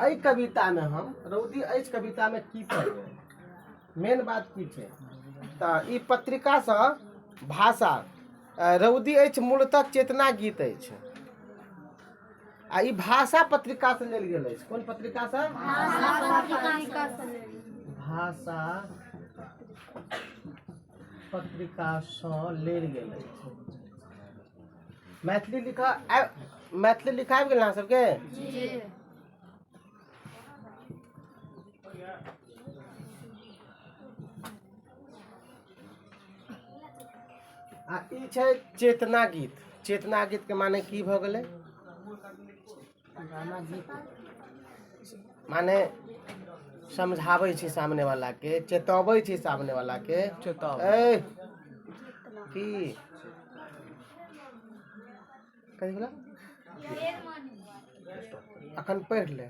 एहि कवितामे हम रौदी अछि कवितामे की पढ़बै मेन बात की छै तऽ ई पत्रिकासँ भाषा रौदी अछि मूलतः चेतना गीत अछि आ ई भाषा पत्रिकासँ लेल गेल अछि कोन पत्रिकासँ भाषा पत्रिकासँ लेल गेल अछि मैथिली लिखा आबि- मैथिली लिखा आबि गेल अहाँ सबके आ ई छै चेतना गीत चेतना गीत के माने की भऽ गेलै माने समझाबै छी सामने वाला के चेतबै छी सामने वाला के चेताव ए की कथी भेला अखन पढ़ि ले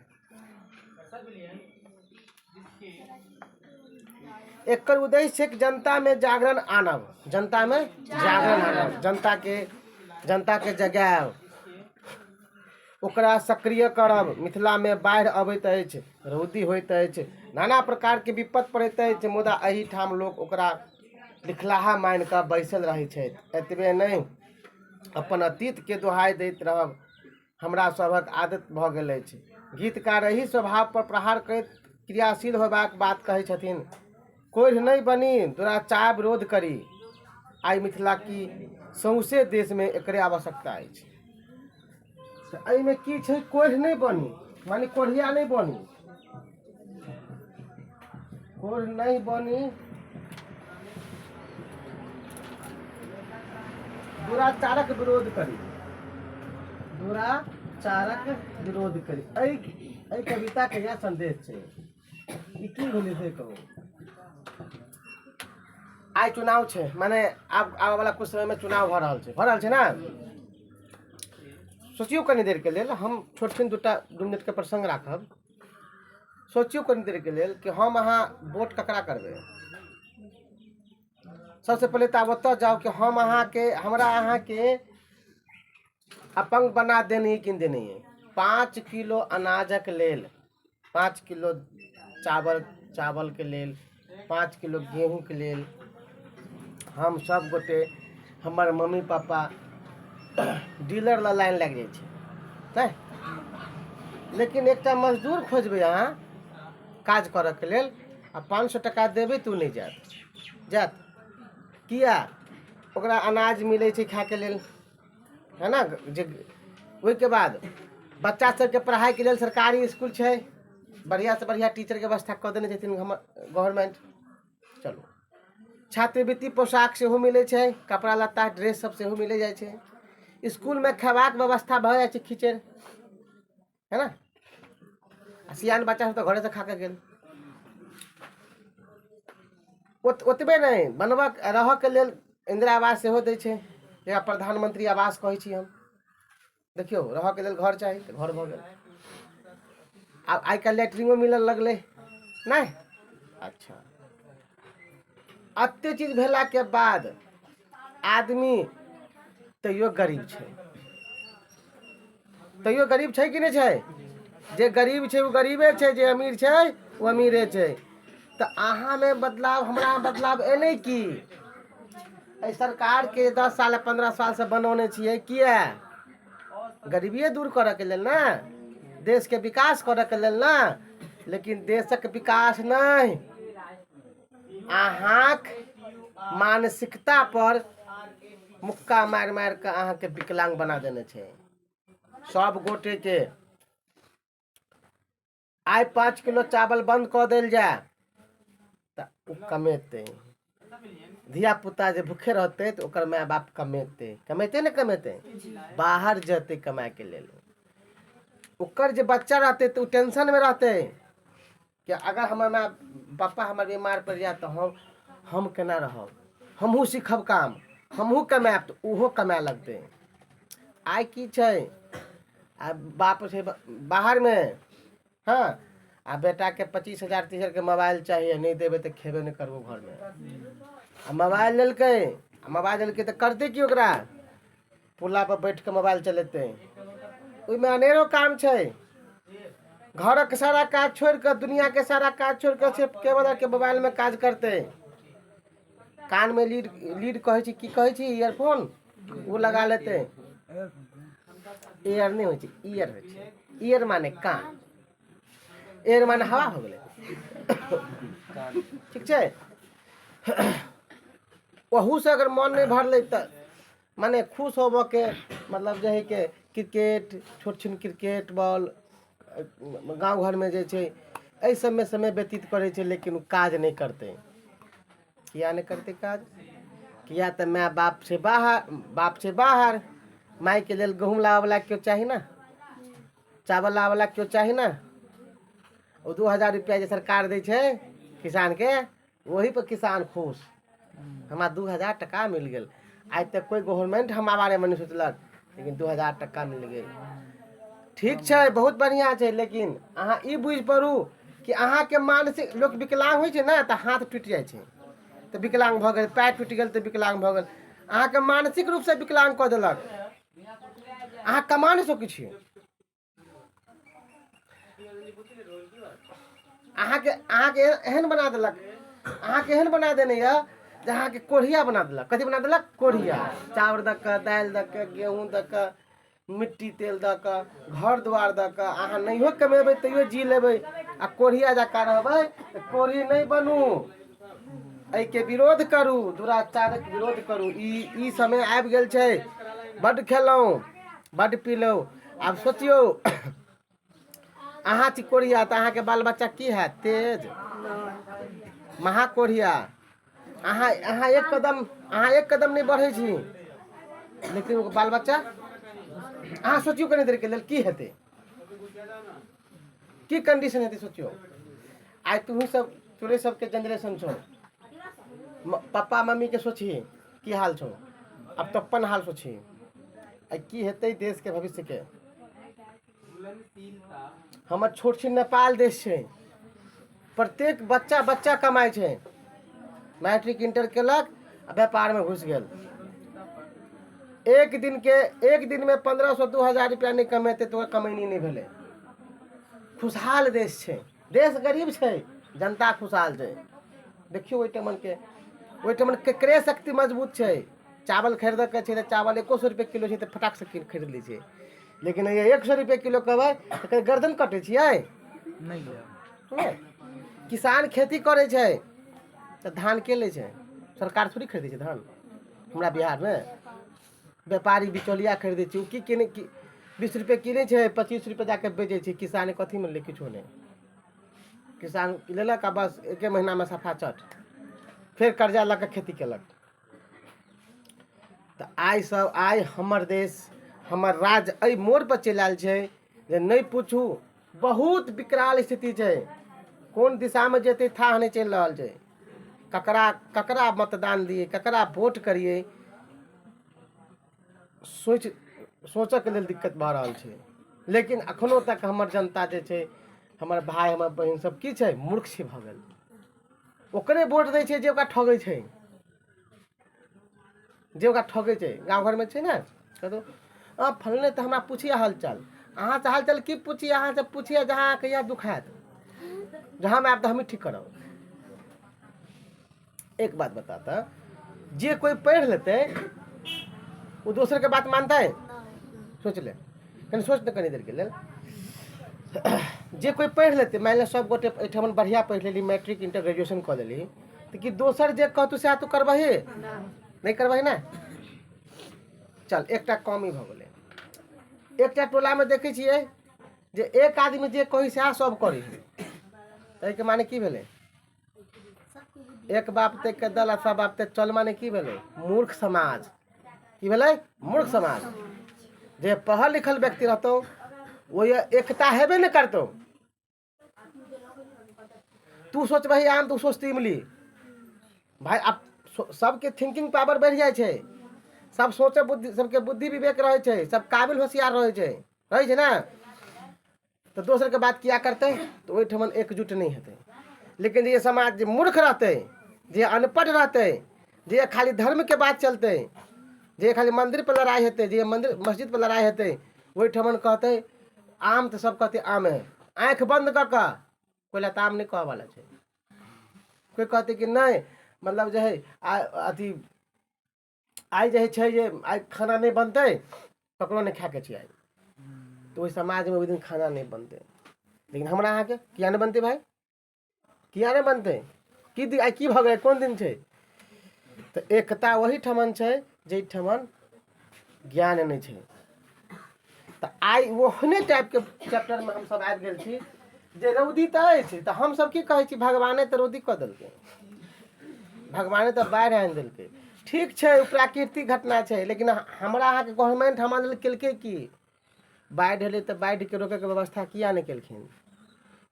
एकर उद्देश्य छै कि जनतामे जागरण आनब जनतामे जागरण आनब जनताके जनताके जगायब ओकरा सक्रिय करब मिथिलामे बाढ़ि अबैत अछि रौदी होइत अछि नाना प्रकारके विपत्ति पड़ैत अछि मुदा एहिठाम लोक ओकरा लिखलाहा मानि कऽ बैसल रहै छथि एतबे नहि अपन अतीतके दोहाइ दैत रहब हमरा सभक आदत भऽ गेल अछि गीतकार एहि स्वभावपर प्रहार करैत क्रियाशील होयबाक बात कहै छथिन कोढ़ि नहि बनी दुराचार विरोध करी आइ मिथिला कि सौँसे देशमे एकरे आवश्यकता अछि तऽ एहिमे की छै कोढ़ि नहि बनी माने कोढ़िया नहि बनी नहीं बनी दुराचारक विरोध करी दुराचारक विरोध करी एहि कविता के यह संदेश है ई की भेलै से कहू आइ चुनाव छै माने आब आबयवला कुछ समयमे चुनाव भऽ रहल छै भऽ रहल छै ने सोचियौ कनि देरके लेल हम छोट छिन दू टा दू मिनटके प्रसङ्ग राखब सोचियौ कनि देरके लेल कि हम अहाँ वोट ककरा करबै सबसँ पहिले तऽ आब ओतऽ जाउ कि हम अहाँके हमरा अहाँके अपङ्ग बना देनी कि देनी पाँच किलो अनाजक लेल पाँच किलो चावल चावलके लेल पाँच किलो गेहूँके लेल हम सभ गोटे हमर मम्मी पापा डीलर लग लाइन लागि जाइ छै नहि लेकिन एकटा मजदूर खोजबै अहाँ काज करऽके लेल आ पाँच सए टका देबै तऽ ओ नहि जायत जायत किया ओकरा अनाज मिलै छै खायके लेल है ने जे ओहिके बाद बच्चा सभके पढ़ाइके लेल सरकारी इसकुल छै बढ़िआँसँ बढ़िआँ टीचरके व्यवस्था कऽ देने छथिन हमर गवर्नमेंट चलू छात्रवृत्ति पोशाक सेहो मिलै छै कपड़ा लत्ता ड्रेससभ सेहो मिल जाइ छै इसकुलमे खयबाक व्यवस्था भऽ जाइ छै खिचड़ि है ना सियान बच्चा सब तो घरे से खा के गेल ओतबे नहीं बनबा रह के लेल इंदिरा आवास सेहो दै छै जेकरा प्रधानमंत्री आवास कहै छी हम देखियो रह के लेल घर चाही तो घर भ गेल आ आई काल्हि लैट्रिनो मिलऽ लगलै नहीं अच्छा अत्य चीज भेला के बाद आदमी तैयो गरीब छै तैयो गरीब छै कि नहि छै जे गरीब छै ओ गरीबे छै जे अमीर छै ओ अमीरे छै तऽ अहाँमे बदलाव हमरा बदलाव एलै की एहि सरकारके दस साल पन्द्रह सालसँ बनौने छियै किए गरीबिए दूर करयके लेल ने देशके विकास करयके लेल ने लेकिन देशक विकास नहि अहाँक मानसिकता पर मुक्का मारि मारि कऽ अहाँके विकलांग बना देने छै सब गोटे के आइ पाँच किलो चावल बंद कऽ देल जाय तऽ ओ कमेतै धियापुता जे भूखे रहतै तऽ ओकर माय बाप कमेतै कमेतै ने कमेतै बाहर जेतै कमायके लेल ओकर जे बच्चा रहतै तऽ ओ टेंशनमे रहतै कि अगर हमर माय पप्पा हमर बीमार पड़ि जायत तऽ हम हम केना रहब हमहूँ सीखब काम हमहूँ कमायब तऽ ओहो कमाय लगतै आइ की छै आ बाप छै ब- बाहरमे हँ आ बेटाके पच्चीस हजार तीस हजारके मोबाइल चाही आ नहि देबै तऽ खेबे नहि करबो घरमे आ मोबाइल लेलकै आ मोबाइल लेलकै तऽ करतै की ओकरा पुल्ला पर बैठ कऽ मोबाइल चलेतै ओहिमे अनेरो काम छै घरक सारा काज छोड़ि कऽ दुनियाके सारा काज छोड़ि कऽ सिर्फ केवल अहाँके मोबाइलमे काज करतै कानमे लीड लीड कहै छी की कहै छी इयरफोन ओ लगा लेतै एयर नहि होइ छै इयर होइ छै इयर माने कान एयर माने हवा हो गेलै ठीक छै ओहूसँ अगर मन नहि भरलै तऽ मने खुश होबऽके मतलब जे हइ के क्रिकेट छोट छिन क्रिकेट बॉल गाँव घरमे जे छै अइ सबमे समय व्यतीत करै छै लेकिन उ काज नहि करतै किएक नहि करतै काज किएक तऽ माय बाप छै बाहर बाप छै बाहर मायके लेल गहुँम लाबऽवला केओ चाही ने चावल लाबऽवला केओ चाही ने ओ दू हजार रुपैआ जे सरकार दै छै किसानके वही पर किसान खुश हमरा दू हजार टका मिल गेल आइ तक कोई गवर्नमेंट हमरा बारेमे नहि सोचलक लेकिन दू हजार टका मिल गेल ठीक छै बहुत बढ़िआँ छै लेकिन अहाँ ई बुझि पड़ू कि अहाँके मानसिक लोक विकलाङ्ग होइ छै ने तऽ हाथ टूटि जाइ छै तऽ विकलाङ्ग भऽ गेल पैर टूटि गेल तऽ विकलाङ्ग भऽ गेल अहाँके मानसिक रूपसँ विकलाङ्ग कऽ देलक अहाँ कमा नहि सकै छियै अहाँके अहाँके एहन बना देलक अहाँके एहन बना देने यऽ जे अहाँके कोढ़िया बना देलक कथी बना देलक कोढ़िया चाउर दऽ कऽ दालि दऽ कऽ गेहूँ दऽ कऽ मिट्टी तेल दऽ कऽ घर दुआर दऽ कऽ अहाँ नहियो कमेबै तैयो जी लेबै आ कोढ़िया जकाँ रहबै तऽ कोढ़ी नहि बनू एहिके विरोध करू दुराचारक विरोध करू ई ई समय आबि गेल छै बड्ड खेलहुँ बड्ड पीलहुँ आब सोचियौ अहाँ छी कोढ़िया तऽ अहाँके बाल बच्चा की हैत तेज महा कोढ़िया अहाँ अहाँ एक कदम अहाँ एक कदम नहि बढ़ै छी लेकिन बाल बच्चा अहाँ सोचियौ कनि देरके लेल की हेतै की कंडीशन हेतै सोचियो आइ तुही सब तोरे सबके जनरेशन छौ पप्पा मम्मी के सोची की हाल छौ अब तो अपन हाल सोची आ की हेतै देश के भविष्य के हमर छोट छी नेपाल देश छै प्रत्येक बच्चा बच्चा कमाइ छै मैट्रिक इंटर केलक आ व्यापारमे घुसि गेल एक दिनके एक दिनमे पन्द्रह सए दू हजार रुपैआ नहि कमेतै तऽ ओकर कमैनी नहि भेलै खुशहाल देश छै देश गरीब छै जनता खुशहाल छै देखियौ ओहिठमनके ओहिठमन केकरे शक्ति मजबूत छै चावल खरीदयके छै तऽ चावल एक्को सए रुपैए किलो छै तऽ फटाकसँ कीन खरीद लै छै लेकिन ये एक सौ रुपये किलो कहबै तऽ कहीं गर्दन कटै छियै नहि लेब हँ। किसान खेती करै छै तऽ धान के लै छै सरकार थोड़ी खरीदै छै धान हमरा बिहारमे व्यापारी बिचौलिया खरीदै छै ओ की किनै की बीस रुपये किनै छै पच्चीस रुपये जाके बेचै छै किसान कथीमे लै किछो नहि किसान लेलक आ बस एके महीनामे सफा चट फेर कर्जा लऽ कऽ खेती केलक तऽ आइ सब आइ हमर देश हमर राज्य एहि मोड़ पर चलि आयल छै जे नहि पूछू बहुत विकराल स्थिति छै कोन दिशामे जेतै थाह नहि चलि रहल छै ककरा ककरा मतदान दियै ककरा वोट करियै सोच सोचऽके लेल दिक्कत भऽ रहल छै लेकिन एखनो तक हमर जनता जे छै हमर भाय हमर बहिन सब की छै मूर्ख छै भऽ गेल ओकरे वोट दै छै जे ओकरा ठगै छै जे ओकरा ठगै छै गाँव घरमे छै ने कतौ अँ फलने तऽ हमरा पूछिए हालचाल अहाँसँ हालचाल की पूछी अहाँसँ पूछिए जहाँ अहाँके इएह दुख हैत जहाँ हम आयब तऽ हमही ठीक करब एक बात बता तऽ जे कोइ पढ़ि लेतै ओ दोसरके बात मानतै सोचि ले कनि सोच तऽ कनि देरके लेल जे कोइ पढ़ि लेतै मानि लिअ सभ गोटे एहिठाम बढ़िआँ पढ़ि लेली मैट्रिक इंटर ग्रेजुएशन कऽ लेली तऽ कि दोसर जे कहतू सएह तू करबही नहि करबही ने चल एकटा कमी भऽ गेलै एकटा टोलामे देखै छियै जे एक आदमी जे कही सएह सभ करी ताहिके माने की भेलै एक बाप ते के दल सब बाप ते चल माने की भेले मूर्ख समाज की भेले मूर्ख समाज जे पढ़ल लिखल व्यक्ति रहतो वो ये एकता हेबे न करतो तू सोच भाई आम तू सोचती इमली भाई अब सबके थिंकिंग पावर बढ़ जाए छे सब सोचे बुद्धि सबके बुद्धि विवेक रहे छे सब काबिल होशियार रहे छे रहे छे ना तऽ दोसरके बात किया करतै तऽ ओहिठमन एकजुट नहि हेतै लेकिन जे समाज जे मूर्ख रहतै जे अनपढ़ रहतै जे खाली धर्मके बात चलतै जे खाली मन्दिरपर लड़ाइ हेतै जे मन्दिर मस्जिदपर लड़ाइ हेतै ओहिठमन कहतै आम तऽ सभ कहतै आमे आँखि बन्द कऽ कऽ कोइ लताम नहि कहऽवला छै कोइ कहतै कि नहि मतलब जे हइ आ अथी आइ जे छै जे आइ खाना नहि बनतै ककरो नहि खायके छै आइ तऽ ओहि समाजमे ओहि दिन खाना नहि बनतै लेकिन हमरा अहाँके किया नहि बनतै भाय किया नहि बनतै की आइ की भऽ गेलै कोन दिन छै तऽ एकता ओहीठमन छै जाहिठमन ज्ञान नहि छै तऽ आइ ओहने टाइपके चैप्टरमे हमसभ आबि गेल छी जे रौदी तऽ अछि तऽ हमसभ की कहै छी भगवाने तऽ रौदी कऽ देलकै भगवाने तऽ बाढ़ि आनि देलकै ठीक छै ओ प्राकृतिक घटना छै लेकिन हमरा अहाँके गवर्नमेंट हमरा लेल केलकै की बाढ़ि एलै तऽ बाढ़िके रोकैके व्यवस्था किया नहि केलखिन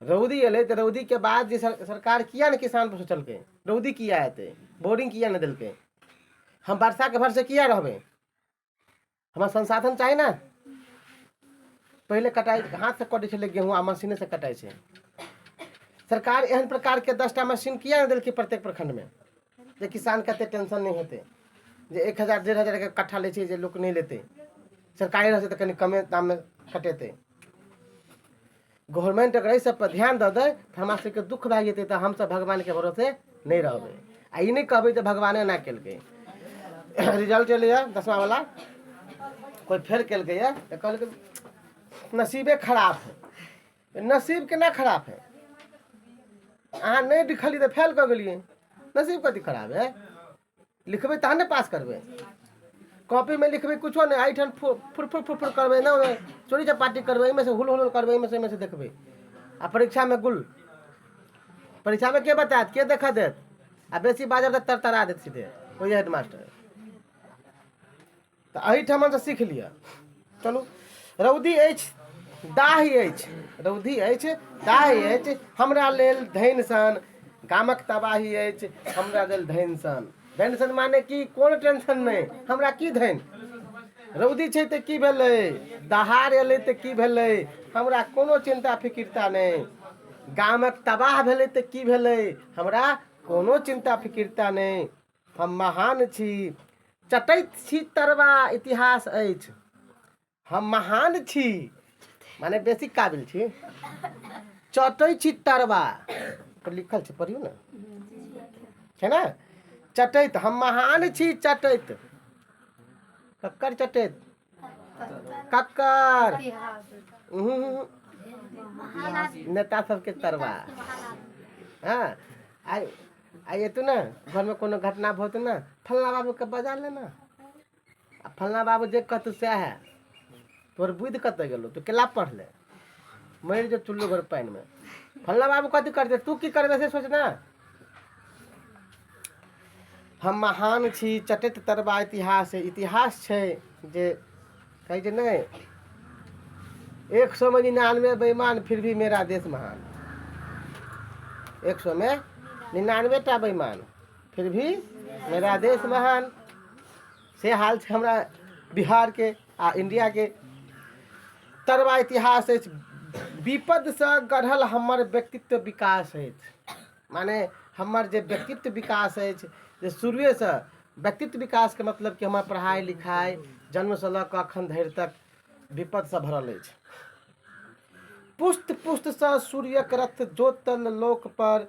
रौदी एलै तऽ रौदीके बाद जे सरकार किया नहि किसान पर सोचलकै रौदी किया एतै बोरिंग किया नहि देलकै हम वर्षाके भरसे किया रहबै हमरा संसाधन चाही ने पहिले कटाइ हाथसँ कटै छलै गेहूँ आ मशीनेसँ कटाइ छै सरकार एहन प्रकारके दसटा मशीन किया नहि देलकै प्रत्येक प्रखंडमे जे किसानके एतेक टेंशन नहि हेतै जे एक हजार डेढ़ हजारके कट्ठा लै छै जे लोक नहि लेतै सरकारी रहतै तऽ कनि कमे दाममे कटेतै गवर्नमेंट अगर एहि सब पर ध्यान दऽ दे तऽ हमरा सबके दुख भए जेतै तऽ हमसब भगवान के भरोसे नहि रहबै आ ई नहि कहबै जे भगवाने एना केलकै रिजल्ट एलैए दसमा वाला कोइ फेल केलकैए तऽ कहलकै नसीबे खराब है नसीब केना खराब है अहाँ नहि लिखलियै तऽ फेल कऽ गेलियै नसीब कथी खराब है लिखबै तहन ने पास करबै कॉपीमे लिखबै किछो नहि एहिठाम फुर फुर फुर फुर करबै ने ओहिमे चोरी चपाटी करबै एहिमे से हुल हुल करबै एहिमे से एहिमे से देखबै आ परीक्षामे गुल परीक्षामे के बतायत के देखऽ देत आ बेसी बाजब तऽ तरतरा देत सीधे ओहि हेडमास्टर तऽ एहिठामसँ सीख लिअ चलू रौदी अछि दाही अछि रौदी अछि दाही अछि हमरा लेल धैन सन गामक तबाही अछि हमरा लेल धैन सन धैन सन माने कि कोन टेंशन नहि हमरा की धैन रौदी छै तऽ की भेलै दहार एलै तऽ की भेलै हमरा कोनो चिन्ता फिकिरता नहि गामक तबाह भेलै तऽ की भेलै हमरा कोनो चिन्ता फिकिरता नहि हम महान छी चटैत छी तरवा इतिहास अछि हम महान छी माने बेसी काबिल छी चटै छी तरवा पर लिखल छै पढ़ियौ ने छै ने चटैत हम महान छी चटैत ककर चटैत कक्कर उहुं, नेता सबके तरवा हाँ आ आ एतू ना घर में कोनो घटना भोत ना फलना बाबू के बजा लेना आ फलना बाबू जे कहतू सएह है तोहर बुद्धि कतऽ गेलो तू केला पढ़ले मरि जो चुल्लू घर पानि में फलना बाबू कथी करते तू की करबे से सोच ना हम महान छी चटैत तरबा इतिहास इतिहास छै जे कहै छै नहि एक सौ में निन्यानवे बेईमान फिर भी मेरा देश महान एक सौ में निन्यानवे टा बेईमान फिर भी मेरा देश महान से हाल छै हमरा बिहारके आ इण्डियाके तरुआ इतिहास अछि विपदसँ गढ़ल हमर व्यक्तित्व विकास अछि मने हमर जे व्यक्तित्व विकास अछि जे शुरुएसँ व्यक्तित्व विकासके मतलब कि हमर पढ़ाइ लिखाइ जन्मसँ लऽ कऽ एखन धरि तक विपदसँ भरल अछि पुष्ट पुष्टसँ सूर्यक रथ जोतल लोक पर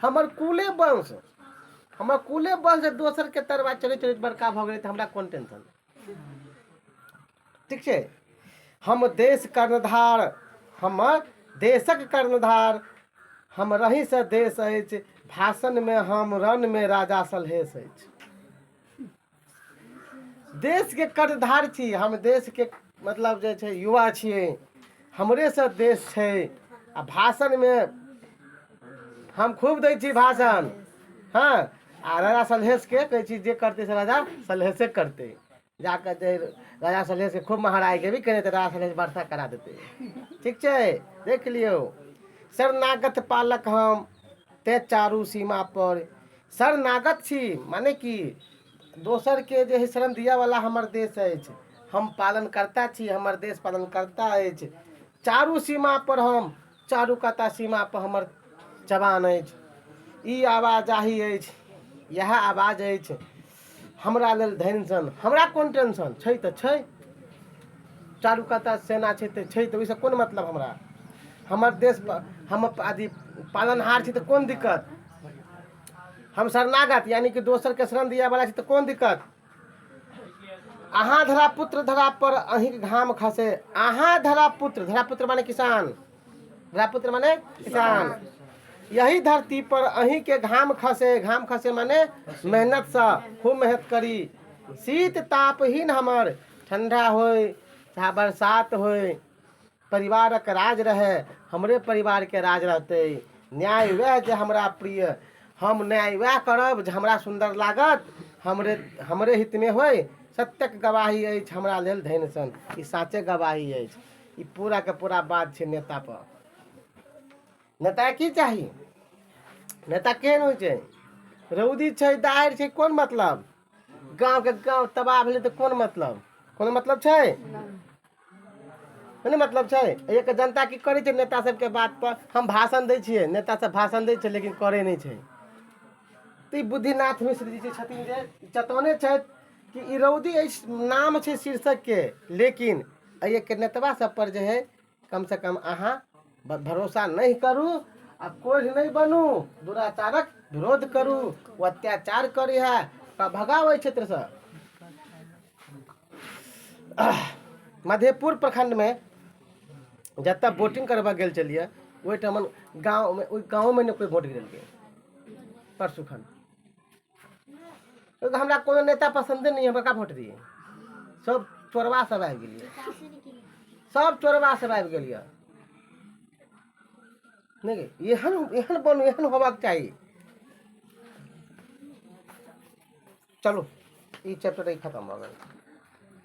हमर कुले वंश हमर कुले वंश जे दोसरके तरवा चलैत चलैत बड़का भऽ गेलै तऽ हमरा कोन टेंशन ठीक छै हम देश कर्णधार हमर देशक कर्णधार हम रही से देश अछि भाषणमे हम रणमे राजा सलहेश अछि देशके कर्णधार छी हम देशके मतलब जे छै युवा छियै हमरेसँ देश छै आ भाषणमे हम खूब दै छी भाषण हँ आ राजा सलहेशके कहै छी जे करतै से राजा सलहेशे करतै जा कऽ जे राजा सलहेशके खूब महाराज के भी कहि देतै राजा सलहेश वर्षा करा देतै ठीक छै देख लियौ शरणागत पालक हम ते चारू सीमा पर शरणागत छी माने कि दोसरके जे हइ शरण दिअवला हमर देश अछि हम पालनकर्ता छी हमर देश पालनकर्ता अछि चारू सीमापर हम चारू कता सीमापर हमर जवान अछि ई आवाजाही अछि इएह आवाज अछि हमरा लेल धनि सन हमरा कोन टेंशन छै तऽ छै चारू कत्ता सेना छै तऽ छै तऽ ओहिसँ कोन मतलब हमरा हमर देश हम अथी पालनहार छी तऽ कोन दिक्कत हम शरणागत यानि कि दोसरके शरण दिअ बला छी तऽ कोन दिक्कत अहाँ धरा पुत्र धरा पर अहींके घाम खसे अहाँ धरा पुत्र धरा पुत्र माने किसान राजपुत्र माने किसान यही धरती पर अही के घाम खसे घाम खसे माने मेहनत से खूब मेहनत करी शीत ताप ही न हमर ठंडा हो चाहे बरसात हो परिवार के राज रहे हमरे परिवार के राज रहते न्याय वह जे हमरा प्रिय हम न्याय वह करब जे हमरा सुंदर लागत हमरे हमरे हित में होय सत्यक गवाही अछि हमरा लेल धैन सन ई साचे गवाही अछि ई पूरा के पूरा बात छै नेता पर नेता की चाही नेता केहन होइ छै रौदी छै दाहर छै कोन मतलब गाँव के गाँव तबाह भेलै तऽ कोन मतलब कोनो मतलब छै कोनो मतलब छै एक जनता की करै छै नेता सबके बात पर हम भाषण दै छियै नेता सब भाषण दै छै लेकिन करै नहि छै तऽ ई बुद्धिनाथ मिश्र जी जे छथिन जे ई चतौने छथि कि ई रौदी अछि नाम छै शीर्षकके लेकिन एहिके नेतबा सब पर जे है कम से कम अहाँ भरोसा नहि करू आ कोढ़ि नहि बनू दुराचारक विरोध करू ओ अत्याचार करी है तऽ भगाओ एहि क्षेत्र से मधेपुर प्रखंड में जतऽ वोटिंग करबऽ गेल छलियै ओहिठाम गाँवमे ओहि गाँवमे नहि कोइ वोट गिरेलकै परसुखन तो हमरा कोनो नेता पसंदे नहीं है बका वोट दिए सब चोरवा सब आबि गेलियै सब चोरवा सब आबि गेलियै नहि गे, एहन एहन बनू एहन होबाक चाही चलू ई चैप्टर ई खतम भऽ गेल